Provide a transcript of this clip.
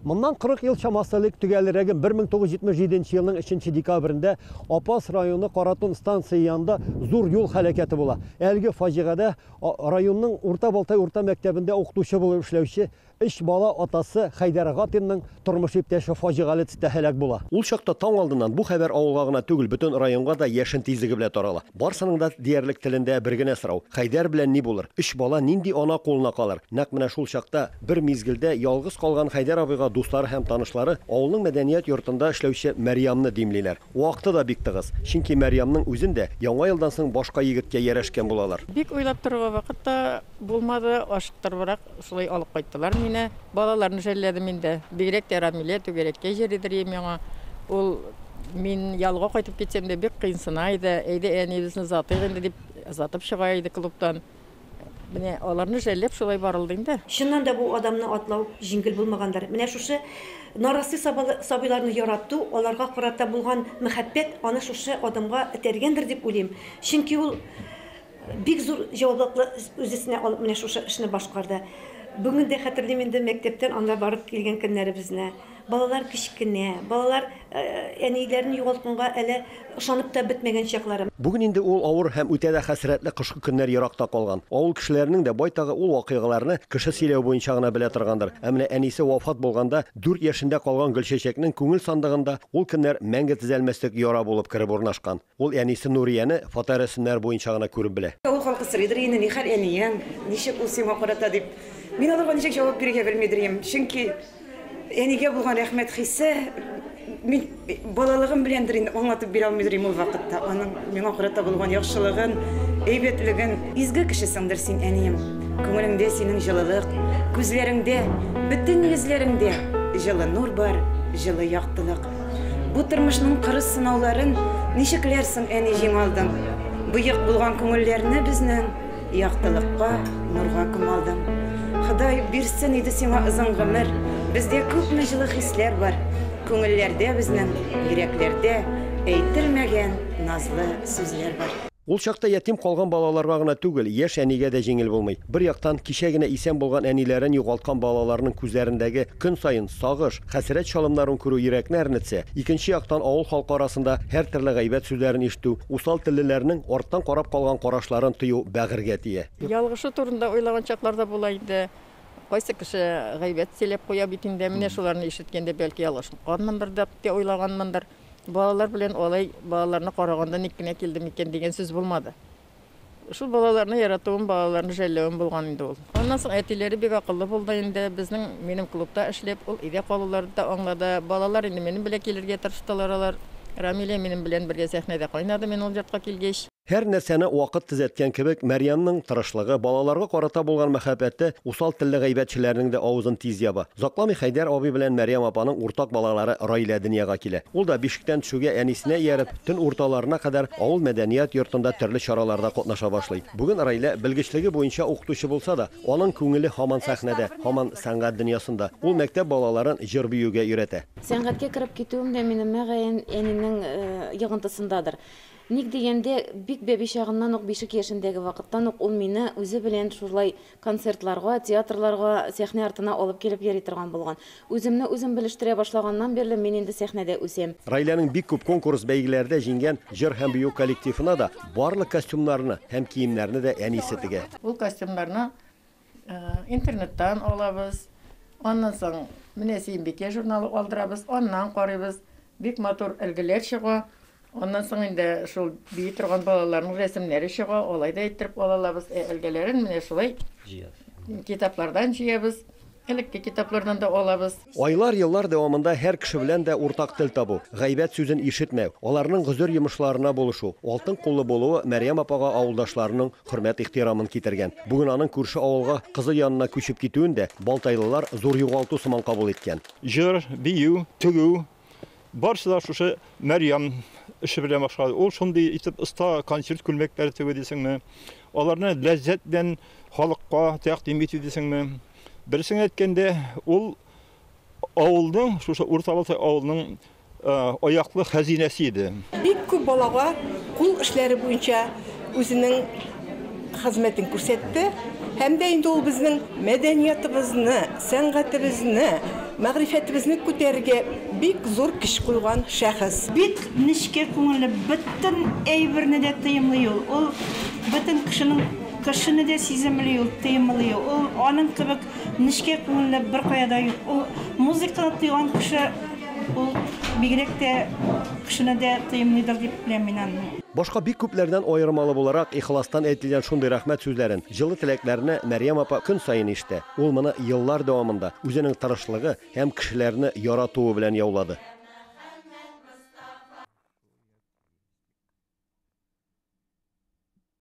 Моннан 40 ел чамасы элек, төгәлрәге 1977 нче елның 3 нче декабрендә Апас районы Каратун станцие янында зур юл һәлакәте була. Әлеге фаҗигадә районның Урта Балтай урта мәктәбендә укытучы булып эшләүче өч бала атасы Хәйдәр Гатинның тормыш иптәше фаҗигале төстә һәлак була. Ул чакта таң алдыннан бу хәбәр авылга гына түгел, бөтен районга да яшен тизлеге белән тарала. Барсының да диярлек телендә бер генә сорау, Хәйдәр белән ни булыр? Өч бала нинди ана кулына калыр? Нәкъ менә шул чакта, бер мизгелдә ялгыз калган Хәйдәр абыйга дуслары һәм танышлары авылның мәдәният йортында эшләүче Мәрьямны димлиләр. Вакыты да бик тыгыз, чөнки Мәрьямның үзен дә Яңа елдан соң башка егеткә ярәшкән булалар. Бик уйлап торуга вакыт та. Булмады, ашыктырыбрак шулай алып кайттылар мине. Балаларны жәлләдем инде. Бигрәк тә Рамилә түгәрәккә җөридер ем яңа. Ул мин ялга кайтып китсәм дә бик кыенсына иде. Әйдә әниебезне озатыйк инде дип озатып чыга иде клубтан. Менә аларны жәлләп шулай барылды инде. Чыннан да бу адамны атлау җиңел булмагандыр. Менә шушы нарасый сабыйларны ярату, аларга карата булган мәхәббәт аны шушы адымга этәргәндер дип уйлыйм. Чөнки ул Бик зур җаваплылыкны үз өстенә алып менә шушы эшне башкарды. Бүген дә хәтерлим инде мәктәптән анда барып килгән көннәребезне. Балалар кечкенә, балалар әниләрен югалтканга әле ышанып та бетмәгән чаклары. Бүген инде ул авыр һәм үтә дә хәсрәтле кышкы көннәр еракта калган. Авыл кешеләренең дә байтагы ул вакыйгаларны кеше сөйләве буенча гына белә торгандыр. Ә менә әнисе вафат булганда дүрт яшендә калган Гөлчәчәкнең күңел сандыгында ул көннәр мәңге төзәлмәслек яра булып кереп урнашкан. Ул әнисе Нурияне фоторәсемнәр буенча гына күреп белә. Авыл халкы сорыйдыр инде, ни хәл әниең, ничек ул сиңа карата дип. Мин аларга ничек җавап бирергә белмидер идем. Чөнки әнигә булган рәхмәт хисе, мин балалыгым беләндер инде, аңлатып бирә алмыйдыр идем ул вакытта аның миңа карата булган яхшылыгын, әйбәтлеген. Изге кешесеңдер син, әнием. Күңелеңдә синең җылылык, күзләреңдә, бөтен йөзләреңдә җылы нур бар, җылы яктылык. Бу тормышның кырыс сынауларын Ничекләр соң, әни, җиңалдың? Боек булган күңелләрне безнең Яктылыкка, нурга күмалдың. Ходай бирсен иде сиңа озын гомер, Бездә күпме җылы хисләр бар, Күңелләрдә безнең, йөрәкләрдә Әйтермәгән назлы сүзләр бар. Ул чакта ятим калган балаларга гына түгел, яшь әнигә дә җиңел булмый. Бер яктан, кичә генә исән булган әниләрен югалткан балаларның күзләрендәге көн саен сагыш, хәсрәт чалымнарын күрү йөрәкне әрнетсә, икенче яктан, авыл халкы арасында һәртөрле гайбәт сүзләрен ишетү, усал теллеләрнең арттан карап калган карашларын тою бәгырьгә тия. Ялгышы турында уйлаган чаклар да була инде. Кайсы кеше гайбәт сөйләп куя бит инде, менә шуларны ишеткәндә, бәлки ялгышканмындыр дип тә уйлаганмындыр. Балалар белән алай балаларны карагандан ник кенә килде микән дигән сүз булмады. Шул балаларны яратуым, балаларны жәлләвем булган инде ул. Аннан соң әтиләре бик акыллы булды инде. Безнең, минем клубта эшләп, ул өйдә калуларны да аңлады. Балалар инде минем белән килергә тырыштылар алар. Рамилә минем белән бергә сәхнәдә кайнады мин ул йортка килгәч. Һәр нәрсәне вакыт төзәткән кебек, Мәрьямнең тырышлыгы, балаларга карата булган мәхәббәте усал телле гайбәтчеләрнең дә авызын тиз яба. Озакламый Хәйдәр абый белән Мәрьям апаның уртак балалары Раилә дөньяга килә. Ул да, бишектән төшүгә әнисенә ияреп, төн урталарына кадәр авыл мәдәният йортында төрле чараларда катнаша башлый. Бүген Раилә белгечлеге буенча укытучы булса да, аның күңеле һаман сәхнәдә, һаман сәнгать дөньясында. Ул мәктәп балаларын җыр-биюгә өйрәтә. Сәнгатькә кереп китүем дә минем, мөгаен, әнинең йогынтысындадыр. Ник дигәндә, бик бәби чагыннан ук, бишек яшендәге вакыттан ук ул мине үзе белән шулай концертларга, театрларга, сәхнә артына алып килеп йөри торган булган. Үземне үзем белештерә башлаганнан бирле мин инде сәхнәдә үсәм. Раиләнең бик күп конкурс, бәйгеләрдә җиңгән җыр һәм бию коллективына да барлык костюмнарны һәм киемнәрне дә әнисе тегә. Ул костюмнарны Интернеттан алабыз. Аннан соң менә Сөембикә журналы алдырабыз, аннан карыйбыз. Бик матур әлгеләр чыга. Аннан соң инде шул бии торган балаларның рәсемнәре чыга, алай да әйттереп ала алабыз. Ә әлгеләрен менә шулай китаплардан җыябыз. Элекке китаплардан да алабыз. Айлар, еллар дәвамында һәр кеше белән дә уртак тел табу, гайбәт сүзен ишетмәү, аларның гозер йомышларына булышу, алтын куллы булуы Мәрьям апага авылдашларының хөрмәт-ихтирамын китергән. Бүген аның күрше авылга кызы янына күчеп китүен дә балтайлылар зур югалту сыман кабул иткән. Җыр, бию, тегү, Барысы да шушы Мәрьям эше белән башлады. Ул шундый итеп оста консерт күлмәкләре тегү дисеңме? Аларны ләззәт белән халыкка тәкъдим итү дисеңме? Берсен әйткәндә, ул авылның, шушы Уртабалтай авылының э, аяклы хәзинәсе иде. Бик күп балага кул эшләре буенча үзенең хезмәтен күрсәтте һәм дә инде ул безнең мәдәниятыбызны, сәнгатебезне, мәгърифәтебезне күтәрергә бик зур көч куйган шәхес. Бик нечкә күңелле, бөтен әйберне дә тыемлый ул. Ул бөтен кешенең кешене дә сиземли ул, тыемлый ул. Ул аның кебек нечкә күңелле беркая да юк. Ул музыканы тойган кеше ул бигрәк тә кешене дә тыемлыйдыр дип беләм мин аны. Башка бик күпләрдән аермалы буларак, ихластан әйтелгән шундый рәхмәт сүзләрен, җылы теләкләрне Мәрьям апа көн саен ишетә. Ул моны еллар дәвамында үзенең тырышлыгы һәм кешеләрне яратуы белән яулады.